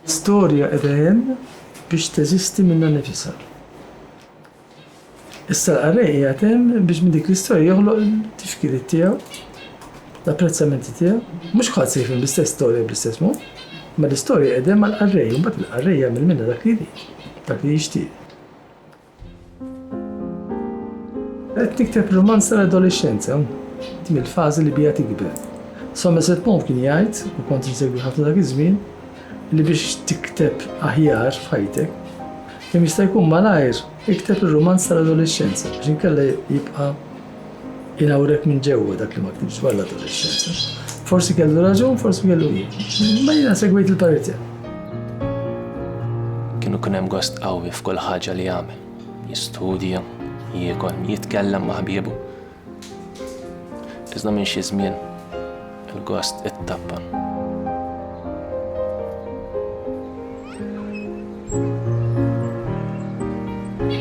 Storja qiegħda hemm biex teżisti minnha nifisha. Issa l-qarrej qiegħed hemm biex minn dik l-istorja joħloq il-tifkiriet tiegħu, l-apprezzamenti tiegħu. Mhux ħadd se jifhem l-istess storja bl-istess mod, ma l-istorja qiegħda hemm għall-qarrej, imbagħad il-qarrej jagħmel minnha dak li jrid, dak li jixtieq. Qed tikteb rumanz tal-adolescenza, din il-fażi li bija tikber. Somerset Maugham kien jgħid, u kont insegwi ħafna dak iż-żmien, li biex tikteb aħjar f'ħajtek, kemm jista' jkun malajr ikteb ir-rumanz tal-adolescenza biex inkella jibqa' Inawrek minn ġewwa dak li ma ktibx dwar l-adolescenza. Forsi kellu raġun, forsi kellu jien. Ma jiena segwejt il-parir tiegħu. Kienu kien hemm gost qawwi f'kull ħaġa li jagħmel. Jistudja, jiekol, jitkellem ma' ħbiebu. Iżda minn xi żmien Il-gost ittappan.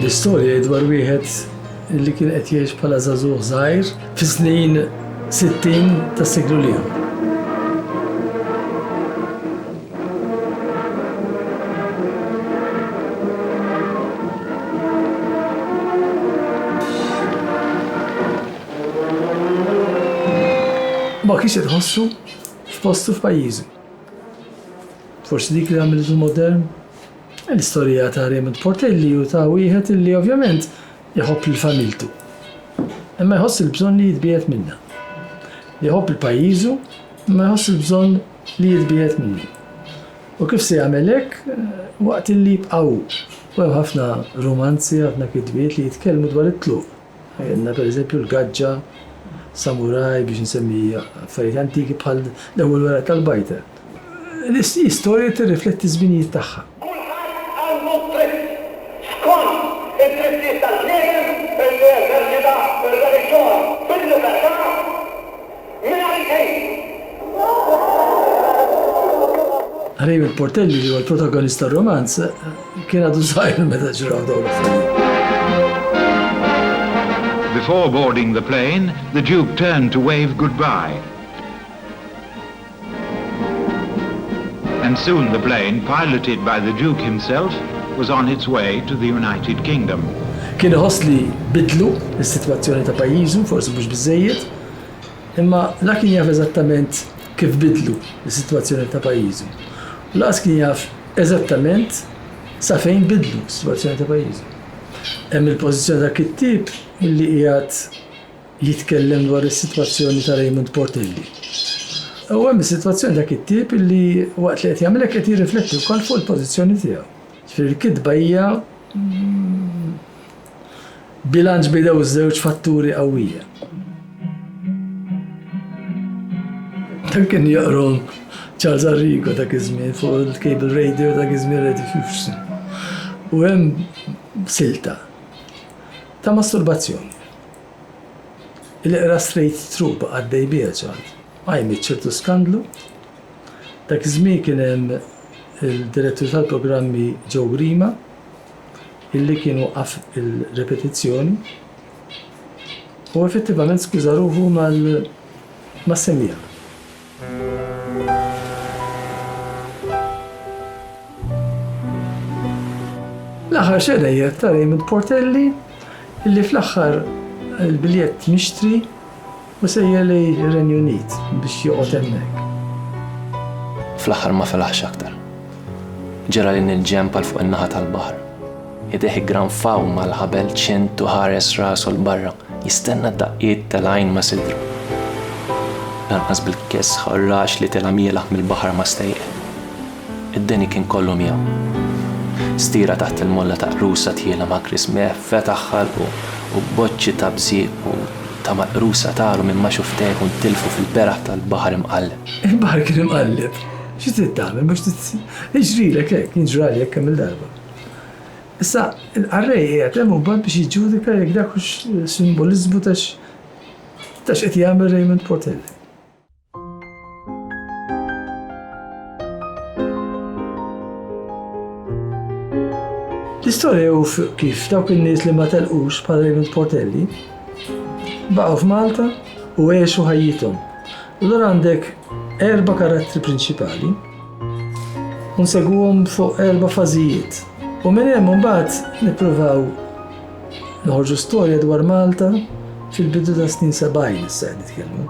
L-istorja dwar wieħed li kien qed jgħix bħala żagħżugħ żgħir fi snin 60 tas-seklu liħu. Ma kienx qed iħossu f'postu f'pajjiżu. Forsi dik li għamiltu modern? L-istorija ta' Raymond Portelli u ta' wieħed illi ovvjament jħobb lil familtu. Imma jħoss il-bżonn li jitbiegħed minnha. Li jħobb lil pajjiżu imma jħoss il-bżonn li jitbiegħed minnu. U kif se jagħmel hekk waqt illi jibqa' hu? U hemm ħafna rumanzi, ħafna kitbiet li jitkellmu dwar it-tluq. Għandna pereżempju l-gaġġa, samuraj, biex insemmi affarijiet antiki bħal l-ewwel weraq tal-bajta. L-istorja tirrifletti ż-żminijiet tagħha. Kulħadd għandu d-dritt, skont id-drittijiet tal-bniedem, illi jeżerċita r-reliġjon bil-libertà. Raymond Portelli li huwa l-protagonist tar-romanz kien għadu żgħir meta ġraw dawn l-affarijiet. Before boarding the plane, the Duke turned to wave goodbye. And soon the plane, piloted by the Duke himself, was on its way to the United Kingdom. Kien iħoss li bidlu s-sitwazzjoni ta' pajjiżu, forsi mhux biżżejjed, Imma la kien jaf eżattament kif bidlu s-sitwazzjoni ta' pajjiżu u lanqas kien jaf eżattament sa fejn bidlu s-sitwazzjoni ta' pajjiżu. Hemm il-pożizzjoni tal-kittieb li qiegħed jitkellem dwar is-sitwazzjoni ta' Raymond Portelli. U hemm is-sitwazzjoni ta' kittieb li waqt li qed jagħmel hekk qed jirrifletti wkoll fuq il-pożizzjoni tiegħu. Ġifieri l-kitba hija Bilanċ b'idejh żewġ fatturi qawwija. Dan kien jaqrom Charles Arrigo dak iż-żmien fuq il-cable radio dak iż-żmien Radio Fusion. U hemm silta ta' masturbazzjoni. Il-qra straight through ba' għaddej biha ċar. Għajmet ċertu skandlu. Dak iż-żmien kien hemm il-direttur tal-programmi Joe Grima illi kien waqqaf il-ripetizzjoni u effettivament skuża ruħu mas-semmiegħa. L-aħħar xena hija ta' Raymond Portelli illi fl-aħħar il-biljett mixtri Hu sejjer lejn ir-Renju Unit biex joqgħod hemmhekk. Fl-aħħar ma felaħx aktar. Ġera lejn il-ġenb għal fuq in-naħa tal-baħar. Idejh iggranfaw mal-ħabel ċint u ħares rasu l-barra, jistenna d-daqqiet tal-għajn ma sidru. Lanqas bil-kesħ u r-raġ li tela' mielaħ mill-baħar ma stejqet. Id-deni kien kollu miegħu. Stira taħt il-molla ta' qrusa tqiela ma' Chris Mehf fetaħ ħalqu u boċċi ta' bżieq u ta' maqrusa taru minn ma' xufftejh u ntilfu fil-beraħ tal-baħar imqalleb. Il-baħar kien imqalleb. Xi trid tagħmel mhux jiġrilek hekk, jien ġrali hekk kemm-il darba. Issa l-qarrej qiegħed hemm imbagħad biex jiġġudika jekk dak hux simboliżmu ta' x'qed jagħmel Raymond Portelli. L-istorja hu kif dawk in-nies li ma telqux bħal Raymond Portelli baqgħu f'Malta u għexu ħajjithom. Allura għandek erba' karattri prinċipali u nsegwuhom fuq erba' fażijiet. U minn hemm imbagħad nippruvaw noħorġu storja dwar Malta fil-bidu ta' snin 70 issa qed nitkellmu.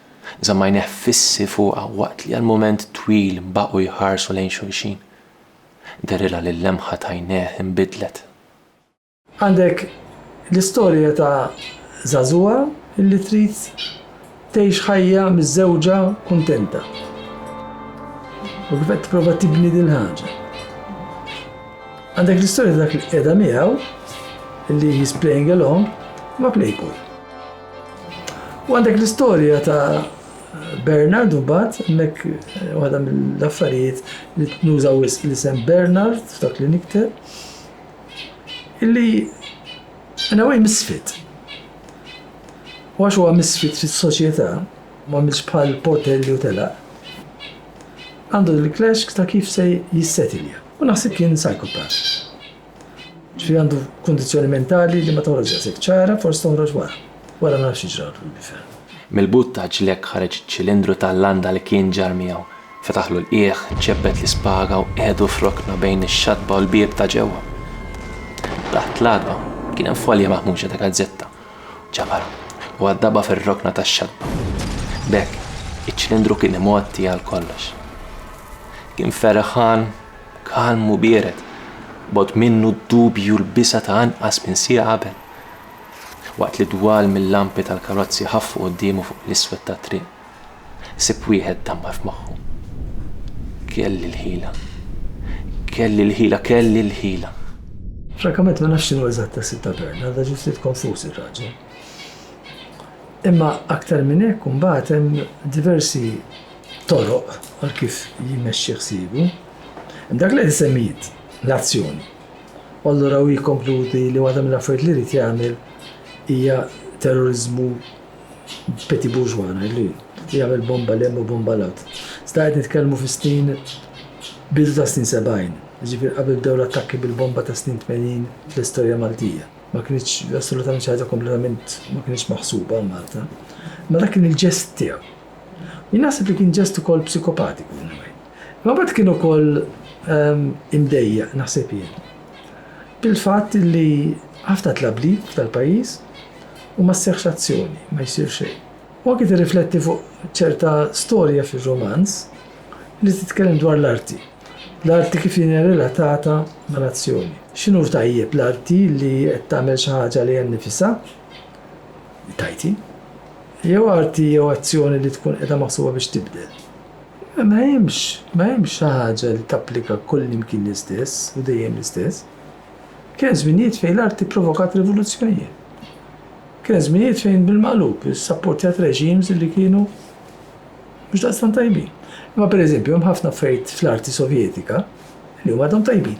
Żamm għajnejh fissi fuqha waqt li għal mument twil baqgħu jħarsu lejn xulxin. Derilha li l-lemħa t'għajnejh inbidlet. Għandek l-istorja ta' żagħżugħa li trid tgħix ħajja miżżewġa kuntenta. U kif qed tipprova tibni din il-ħaġa. Għandek l-istorja ta' dak li qiegħda miegħu li he's playing along ma' plejkun. U għandek l-istorja ta' Bernard u bat, mek waħda mill-affarijiet li nużaw l-isem Bernard f'dak li nikte, illi għana għaj misfit. U għax huwa misfit fis soċjetà ma milx bħal portelli u tela, għandu l-klaxk ta' kif se jissetilja. U naħseb kien psychopath. Ġifieri għandu kundizzjoni mentali li ma toħroġx daqshekk ċara, forsi toħroġ wara. Wara naraw x'jiġralu lill-bifel. Mill-but ta' ġlekk ħareġ iċ-ċilindru tal-landa li kien ġarr miegħu. Fetaħlu l-qiegħ, ċebbet l-ispaga u qiegħdu f'rokna bejn ix-xatba u l-bieb ta' ġewwa. Taħt l-għatba kien hemm folja maħmuġa ta' gazzetta. Ġabarha u għaddabha fir-rokna tax-xatba. B'hekk, iċ-ċilindru kien imgħotti għal kollox. Kien ferħan Kalm u biered, bogħod minnu d-dubji u l-biża' ta' anqas minn siegħa qabel, waqt li dwal mil-lampi tal-karozzi ħaffu quddiemu fuq l-iswed tat-triq. Ħsieb wieħed dammar f'moħħu. Kelli l-ħila. Kelli l-ħila, kelli l-ħila. Frankament ma nafx x'inhu eżatt ħsieb ta' Bern, għadha ġiet ftit konfuż ir-raġel. Imma aktar minn hekk imbagħad hemm diversi. toroq għal kif jmexxi ħsiebu. Dak li qed isemmi int, l-azzjoni. U allura hu jikkonkludi li waħda mill-affarijiet li jrid jagħmel hija terroriżmu petit bourgeois ngħidlu jien, jagħmel bomba 'l hemm u bomba 'l hawn. Iżda qed nitkellmu fis-snin bidu tas-snin sebgħin, jiġifieri qabel bdew l-attakki bil-bomba tas-snin tmenin fl-istorja Maltija. Ma kinitx assolutament xi ħaġa kompletament ma kinitx maħsuba għal Malta. Imma dak kien il-ġest tiegħu. Jien naħseb li kien ġest ukoll psikopatiku in a way. Imma mbagħad kien ukoll imdejjaq, naħseb jien, bil-fatt li ħafna tlablib tal-pajjiż u ma sseħħx azzjoni, ma jsir xejn. U anki tirrifletti fuq ċerta storja fir-rumanz li titkellem dwar l-arti. L-arti kif hija relatata mal-azzjoni. X'inhu tajjeb l-arti li qed tagħmel xi ħaġa lejha nnifisha? tajti. Jew arti jew azzjoni li tkun qiegħda maħsuba biex tibdel. Ma hemmx, ma hemmx xi ħaġa li tapplika kull imkien l-istess u dejjem l-istess. Kien hemm żminijiet fejn l-arti provokat rivoluzzjonijiet. Kien hemm żminijiet fejn bil-maqlub issapportjat reġims li kienu mhux daqstan tajbin. Imma pereżempju hemm ħafna affarijiet fl-arti Sovjetika li huma dom tajbin.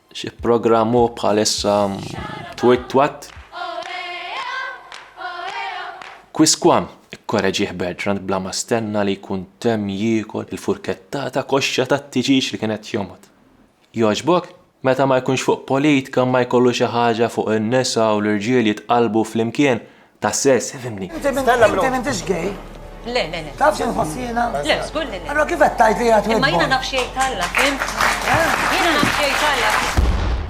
Xi programm hu bħalissa twit twat? Kwiskwam, ikkoreġih Bertrand bla ma stenna li jkun temm jiekol il-furkettata koxxa tat-tiġieġ li kien qed jomgħod. Jogħġbok? Meta ma jkunx fuq politka ma jkollu xi ħaġa fuq in-nisa u l-irġiel jitqallbu flimkien Ta' sess, fimni. Inti m'intix gay? Le, le, le. Taf xi nħoss jiena? Le, żgur li le. Allora kif qed tgħid li qed Imma jiena naf xi jgħid Alla, fim? Jiena naf xi jgħid Alla.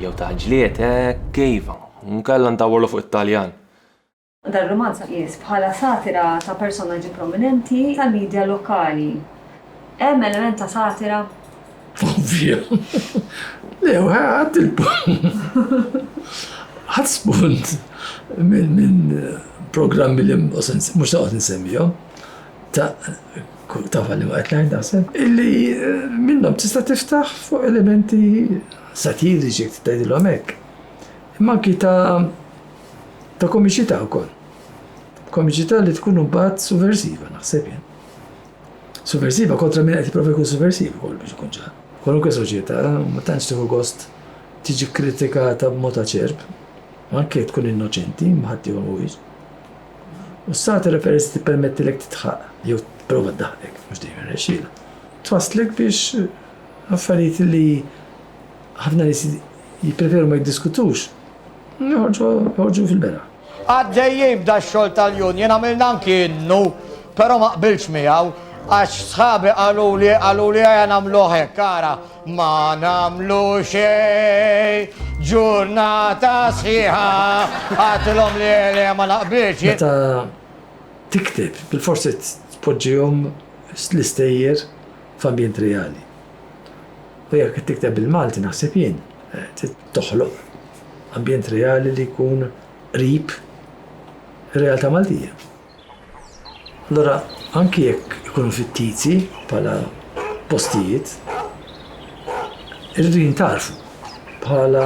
Jew ta' ġlied hekk kejfa, nkella ndawwrlu fuq it-Taljan. Dan rumanz tqies bħala satira ta' personaġġi prominenti tal-midja lokali. Hemm element ta' satira? Ovvja. Le, u ħadd il-punt. Ħadd spunt minn programmi li mhux taqgħod insemmihom ta' ta' falli ma qed ngħid naħseb illi eh, minnhom tista' tiftaħ fuq elementi satiriċi jekk tgħidilhom hekk. Imma anki ta' ta' komiċità wkoll. Komiċità li tkun imbagħad suversiva naħseb jien. Sovversiva kontra min qed jipprova jkun sovversiv ukoll biex ikun ċar. Kwalunkwe soċjetà ma tantx tieħu gost tiġi kkritikata b'mod aċerb, anke jekk tkun innoċenti, imma ħadd ieħor mhuwiex. U s-satira peress tippermettilek tidħaq, jew tipprova ddaħħlek, mhux dejjem irnexxielha, twasslek biex affarijiet li ħafna nies jippreferu ma jiddiskutux joħorġu fil-beraħ. Għaddejjin b'dax-xogħol tal-union għamilna anki innu, però ma qbiltx miegħu għax sħabi qaluli qaluli ejja nagħmluh hekk, ara, ma nagħmlu xejn, ġurnata sħiħa, għattilhom le le ma naqbilx jien. Meta tikteb, bilfors irid tpoġġihom l-istejjer f'ambjent reali. U jekk qed tikteb bil-Malti, naħseb jien, trid. toħloq ambjent reali li jkun qrib ir-realtà Maltija. Allura anki jekk ikunu fittizi bħala postijiet, irridu jintarfu bħala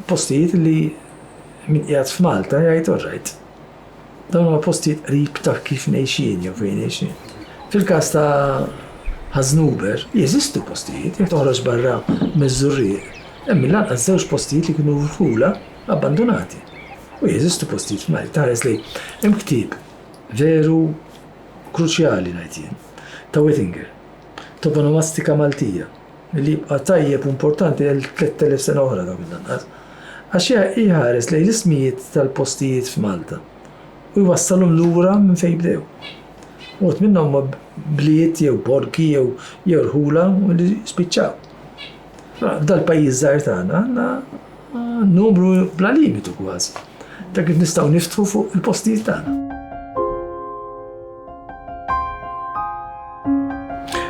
postijiet li min qiegħed f'Malta jgħid all right. Dawn huma postijiet qrib ta' kif ngħixin jew fejn ngħixin. Fil-każ ta' Ħaż-Żnuber, jeżistu postijiet, jekk toħroġ barra miż-Żurrieq, hemm mill-anqas żewġ postijiet li kienu rħula abbandunati. U jeżistu postijiet f'Malli. Tħares li hemm ktieb veru kruċjali, ngħid jien, ta' Whittinger, Toponomastika Maltija, Milli jibqa' tajjeb u importanti għal 3,000 sena oħra dawn mill-anqas. Għax iħares lejn l-ismijiet tal-postijiet f'Malta u jwassalhom lura minn fejn bdew. Uħud minnha huma bliet jew borgi jew jew rħula li spiċċaw. F'dal-pajjiż żgħir tagħna għandna Numru bla limitu kważi ta' kif nistgħu niftħu fuq il-postijiet tagħna.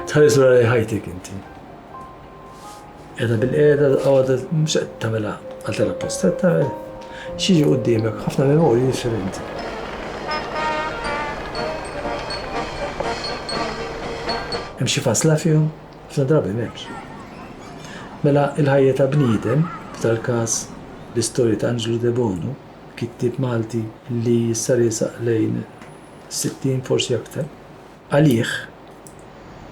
Tħares wara li ħajtek inti. Qiegħda bil-qiegħda għadha mhux qed tagħmilha għal tara post qed tagħmel xi qudiemek ħafna memorji differenti. Hemm xi fasla fihom Ħafna drabi m'hemmx. Mela l-ħajja ta' bniedem, f'dal-każ l-istorja ta' Anġlu Debono, kittieb Malti li issa riesaq lejn is-sittin, forsi aktar, għalih,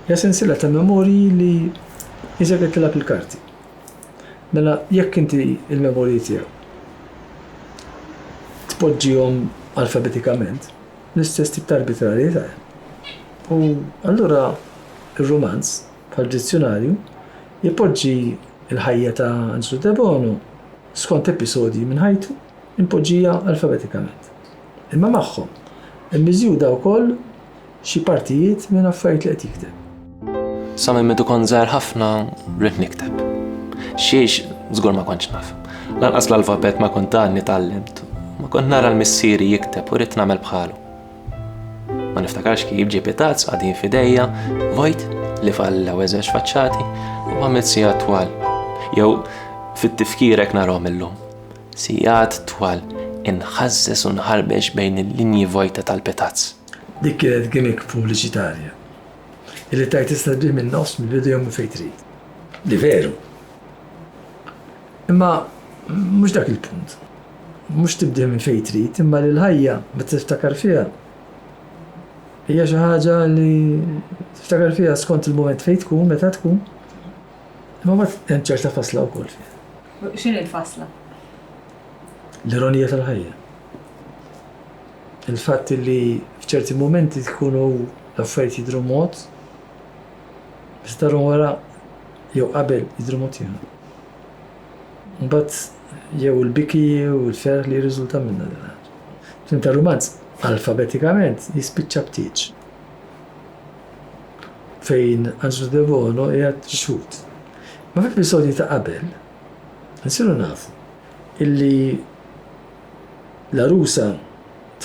hija sensiela ta' memorji li jisek qed tilgħab il-karti. Mela jekk inti l-memorji tiegħu tpoġġihom alfabetikament, L-istess tip ta' arbitrarjetà hemm. U allura r-rumanz, bħad-dizzjunarju, ipoġġi l-ħajja ta' Anġlu Debono skont episodji minn ħajtu impoġġija alfabetikament. Imma magħhom immiżjuda wkoll xi partijiet minn affarijiet li qed jikteb. Sa minn meta kont żgħir ħafna ridt nikteb. Xiex żgur ma kontx naf. Lanqas l-alfabet ma kont għadni tgħallimt. Ma kont nara l-missieri jikteb u ridt nagħmel bħalu. Ma niftakarx kif ġie pitazz qadin f'idejja, vojt li falla weżex faċċati u għamilt sigħat twal. Jew fit-tifkirek narhom illum. Sigħat twal inħażżes u nħarbex bejn il-linji vojta tal-pitazz. Dik kienet gimmick pubbliċitarja. illi tgħid tista' tbih min-nofs, mill-bidu jew minn fejn trid. Li veru. Imma mhux dak il-punt. Mhux tibdih minn fejn trid, imma li l-ħajja meta tiftakar fiha hija xi ħaġa li tiftakar fiha skont il-mument fejn tkun, meta tkun. Imma ma hemm ċerta fasla wkoll fiha. X'in il-fasla? L-ironija tal-ħajja. Il-fatt li f'ċerti mumenti tkun u l-affarijiet jidhru mod, meta tarhom wara jew qabel jidhru mod ieħor. Mbagħad jew il-biki u l-ferħ li jirriżulta minnha din ħaġa. Tim tar-rumanz alfabetikament jispiċċa b'tieġ fejn Angelo Debono qiegħed ixhud. Ma fl-episodji ta' qabel, nsiru nafu illi L-għarusa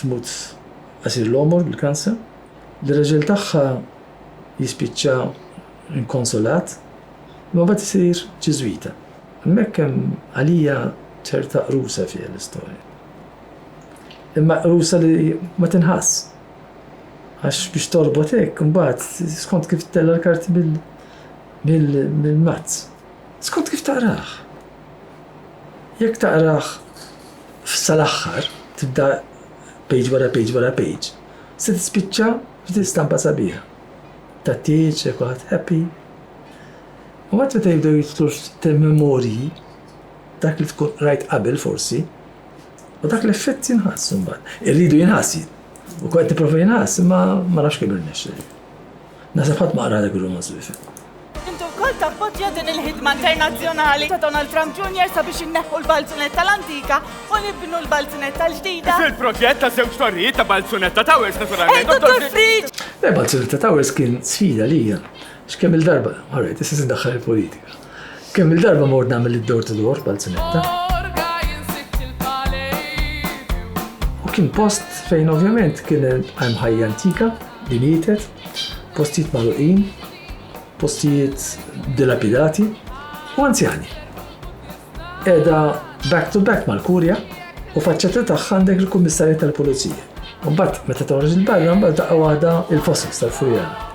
tmut qasir l-għomor bil-kansa. L-irraġel tagħha jispiċċa inkonsolat, imma mbagħad isir Ġiżwita. Hemmhekk hemm għalija ċerta qrusa fiha l-istorja. Imma qrusa li ma tinħass. Għax biex torbot hekk, imbagħad skont kif tella' l-karti mill-mazz. Skont kif taqrah. Jekk taqrah sal-aħħar, tibda page wara page wara page, se tispiċċa f'din stampa sabiħa. Ta' tieġ, kulħadd happy. U għad meta jibdew jitlu memorji dak li tkun rajt qabel forsi, u dak l-effett jinħass mbagħad. Irridu jinħass. U kwet tipprova jinħass, ma ma nafx kemm irnexxi. Naħseb ħadd ma qralek ir-rumanz li fih. Inti wkoll tappoġġja din il-ħidma internazzjonali ta' Donald Trump Jr. sabiex inneħħu l-balzunetta l-antika u nibnu l-balzunetta l-ġdida. Fil-proġett ta' żewġ torrijiet ta' Balzunetta Towers naturalment. Ej, Dottor Friġ! Le, Balzunetta Towers kien sfida lija. X'kemm-il darba, all right, issa se ndaħħal il-politika. Kemm il-darba mort nagħmel id-door to door b'Alzunetta. U kien post fejn ovvjament kien hemm ħajja antika li mietet, postijiet magħluqin, postijiet dilapidati u anzjani. Eda back to back mal-kurja u faċċetta tagħha għandek il-kummissarja tal-pulizija. Mbagħad meta toħroġ il-barra mbagħad daqqa waħda il-fossils tal-furjana.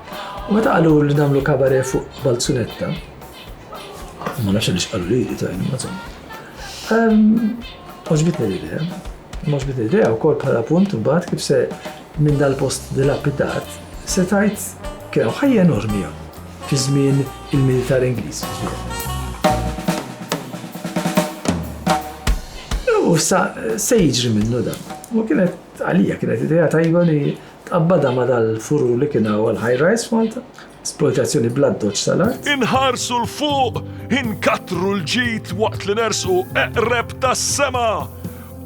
U meta qalu li nagħmlu kabaret fuq Balzunetta, ma nafx għaliex qalu li li tajni ma zom. Oġbitni l-idea, oġbitni l-idea u kol bħala punt mbagħad kif se minn dal-post dilapidat se tajt kien ħajja enormi fi żmien il-militar Ingliż. U sa se jiġri minnu dan. U kienet għalija kienet idea tajba li Tqabbadha ma' dal-furur li kien hawn għall-high rise f'Malta, esplojtazzjoni bl-addoċċ tal-art. Inħarsu 'l fuq, inkattru l-ġid waqt li nersqu eqreb tas-sema!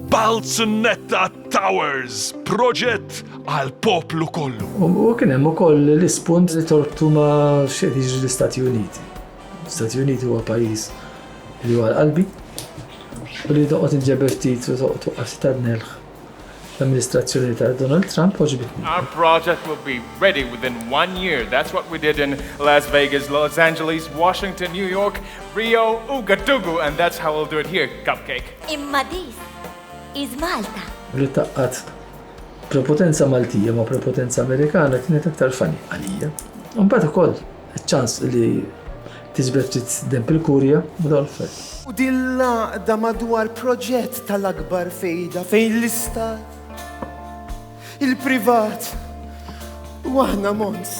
Balzunetta Towers, proġett għall-poplu kollu. U kien hemm ukoll l-ispunt li torbtu ma' x'qed jiġri l-Istati Uniti. L-Istati Uniti huwa pajjiż li huwa għal qalbi u li toqgħod inġeber ftit u toqgħod tuqqas tadnelh. l-amministrazzjoni ta' Donald Trump għoġbitni. Our project will be ready within one year. That's what we did in Las Vegas, Los Angeles, Washington, New York, Rio, Ouagadougou and that's how we'll do it here, Cupcake. Imma this is Malta. Li taqqat prepotenza Maltija ma' prepotenza Amerikana kienet aktar funny għalija. Mbagħad ukoll Iċ-ċans li tiġbed ftit denb il-Kurja ma dawl f'hekk. U din l-għaqda madwar proġett tal-akbar fejda fejn l-Istat, il-privat u aħna mons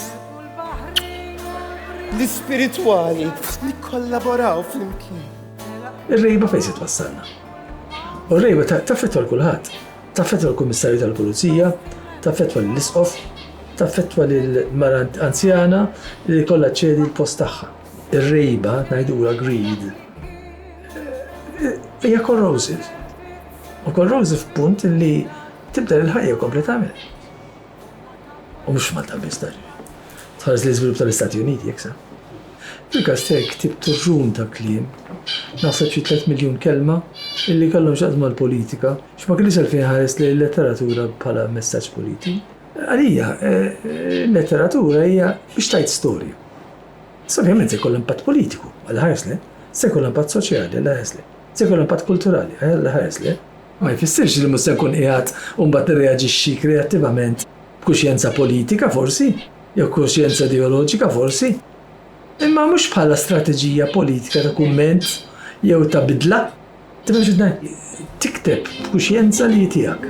l-ispiritwali nikkollaboraw flimkien. Ir-rejba fejn se twassalna? U r-rejba taf li tol kulħadd. Taffettwa l-Kummissarju tal-Pulizija, taffettwa lill-Isqof, taffettwa lil mara anzjana li jkollha ċċedi l-post tagħha. Ir-rejba, ngħidulha greed, hija corrosive. U corrosive punt li tibdel il-ħajja kompletament. U mhux Malta biss dan. Tħares l-iżvilupp tal-Istati Uniti jekk sa. Fil-każ tiegħek ktibt turġun ta' kliem, naħseb xi tliet miljun kelma, illi kellhom x'jaqsmu mal-politika, x'ma kellix għalfejn ħarest lejn il-letteratura bħala messaġġ politiku. Għalija, il-letteratura hija biex tgħid storja. Issa ovvjament se jkollha impatt politiku, Alla ħares le, se jkollha impatt soċjali, Alla ħares le, se jkollha impatt kulturali, Alla ħares le, ma jfissirx li mhux se nkun qiegħed mbagħad nirreaġixxi kreattivament b'kuxjenza politika, forsi, jew kuxjenza ideoloġika, forsi, imma mhux bħala strateġija politika ta' kumment jew ta' bidla. Tifhem x'qed ngħid? Tikteb b'kuxjenza li hi tiegħek.